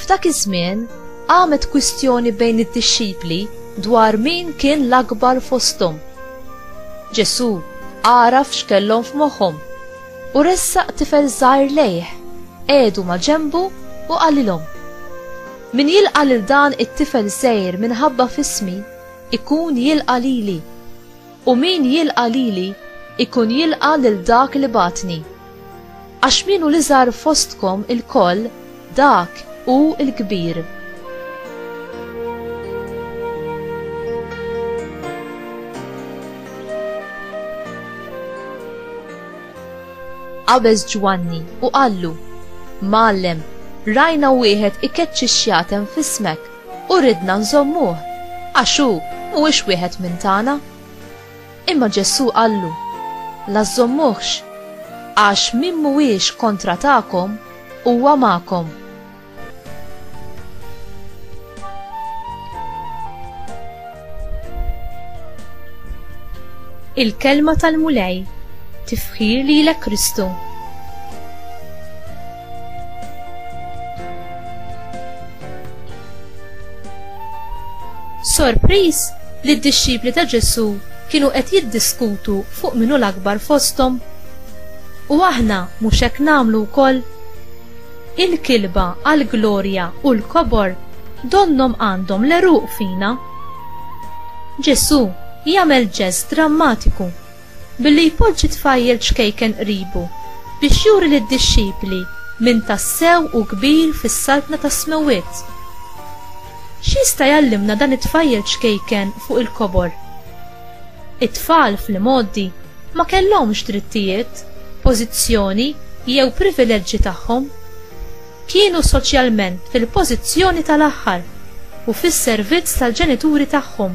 F'dak iż-żmien qamet kwistjoni bejn id-dixxipli dwar min kien l-akbar fosthom. Ġesù għaraf x'kellhom f'moħħhom u ressaq tifel żgħir lejh, qiegħdu ma' ġenbu u qalilhom, Min jilqa' lil dan it-tifel żgħir minħabba f'ismi, ikun jilqa' lili. U min jilqa' lili, ikun jilqa' lil dak li bagħatni. Għax min hu l-iżgħar fostkom ilkoll, dak hu l-kbir. qabeż Ġwanni u qallu, Mgħallem, rajna wieħed ikeċċi x-xjatem f'ismek. U ridna nżommuh, għax hu mhuwiex wieħed minn tagħna. Imma Ġesù qallu, La żżommuhx, għax min mhuwiex kontra tagħkom huwa magħkom. Il-Kelma tal-Mulej, tifħir lilek Kristu. Sorpriż li d-dixxipli ta' Ġesu kienu qed jiddiskutu fuq minu l-akbar fosthom. U aħna mhux hekk nagħmlu wkoll? Il-kilba għall-glorja u l-kobor donnhom għandhom l-għeruq fina. Ġesù jagħmel ġest drammatiku billi jpoġġi tfajjel ċkejken qribu biex juri lid-dixxipli min tassew hu kbir fis-Saltna tas-Smewwiet. X'jista' jgħallimna dan it-tfajjel ċkejken fuq il-kobor? It-tfal fl-imgħoddi ma kellhomx drittijiet, pożizzjoni jew privileġġi tagħhom. Kienu soċjalment fil-pożizzjoni tal-aħħar u fis-servizz tal-ġenituri tagħhom,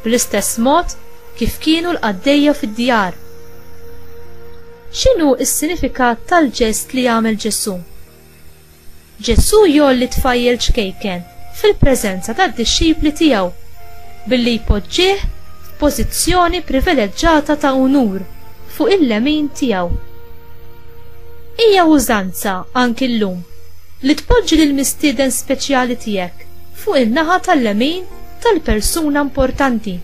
bl-istess mod kif kienu l-qaddejja fid-djar. X'inhu s-sinifikat tal-ġest li għamel Ġesù? Ġesù jgħolli tfajjel ċkejken fil-preżenza tad-dixxipli tiegħu billi jpoġġih f'pożizzjoni privileġġata ta' unur fuq il-lemin tiegħu. Hija użanza anki llum li tpoġġi lill-mistieden speċjali tiegħek fuq in-naħa tal-lemin tal-persuna importanti.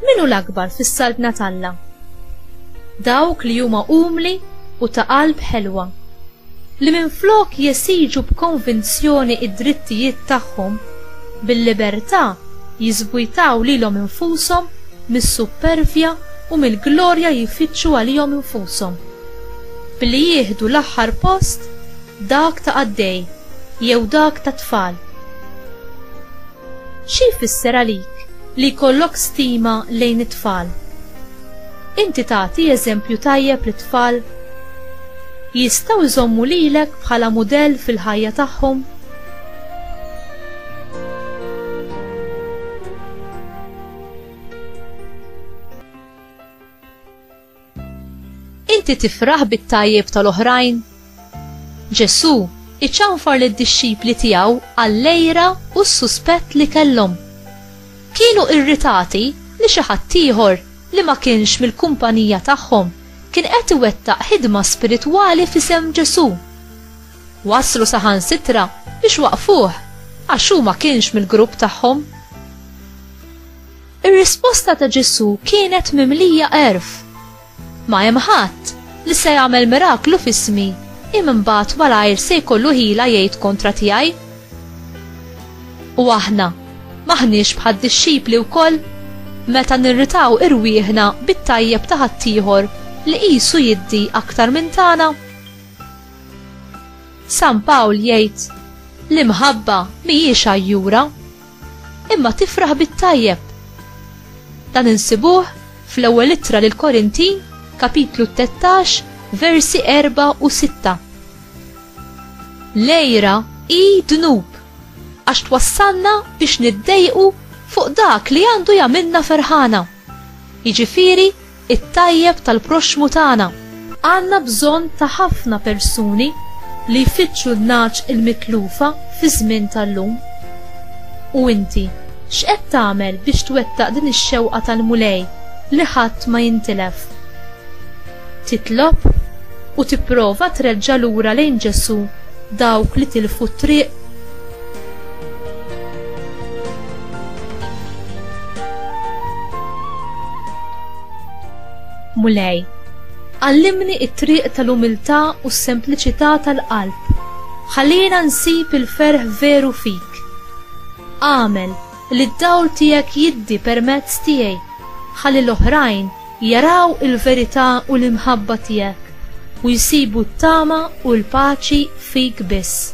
Min hu l-akbar fis-Saltna t'Alla? Dawk li huma umli u ta' qalb ħelwa, li minflok jesiġu b'konvinzjoni d-drittijiet tagħhom, bil-libertà jiżbujtaw lilhom infushom mis-suppervja u mill-glorja jfittxu għalihom infushom, billi jieħdu l-aħħar post, dak ta' qaddej jew dak ta' tfal. Xi jfisser għalik li jkollok stima lejn it-tfal? Inti tagħti eżempju tajjeb lit-tfal? Jistgħu jżommu lilek bħala mudell fil-ħajja tagħhom? Inti tifraħ bit-tajjeb tal-oħrajn? Ġesù iċanfar lid-dixxipli tiegħu għall-lejra u s-suspett li kellhom. Kienu irritati li xi ħaddieħor li ma kienx mill-kumpanija tagħhom kien qed iwettaq ħidma spiritwali f'isem Ġesù. Waslu saħansitra biex waqfuh għax hu ma kienx mill-grupp tagħhom. Ir-risposta ta' Ġesù kienet mimlija erf. Ma hemm ħadd li se jagħmel miraklu f'ismi im imbagħad malajr se jkollu ħila jgħid kontra tiegħi. U aħna maħniex bħad dixxipli wkoll meta nirritaw irwieħna bit-tajjeb ta' ħaddieħor li qisu jiddi aktar minn tagħna. San Pawl jgħid l-imħabba mhijiex għajjura, imma tifraħ bit-tajjeb. Dan insibuh fl-ewwel ittra lil Korintin, kapitlu 13, versi 4 u 6. Lejra i dnub għax twassalna biex niddejqu fuq dak li għandu jagħmilna ferħana. Jiġifieri it-tajjeb tal-proxxmu tagħna. Għandna bżonn ta' ħafna persuni li jfittxu n-nagħaġ il-mitlufa fiż-żmien tal-lum. U inti, x'qed tagħmel biex twettaq din ix-xewqa tal-Mulej li ħadd ma jintilef? Titlob u tipprova treġġa' lura lejn Ġesù dawk li tilfu t-triq? Mulej, għallimni t-triq tal-umiltà u s-sempliċità tal-qalb. Ħallina nsib il-ferħ veru fik. Agħmel li d-dawl tiegħek jiddi permezz tiegħi ħalli l-oħrajn jaraw il-verità u l-imħabba tiegħek u jsibu t-tama u l-paċi fik biss.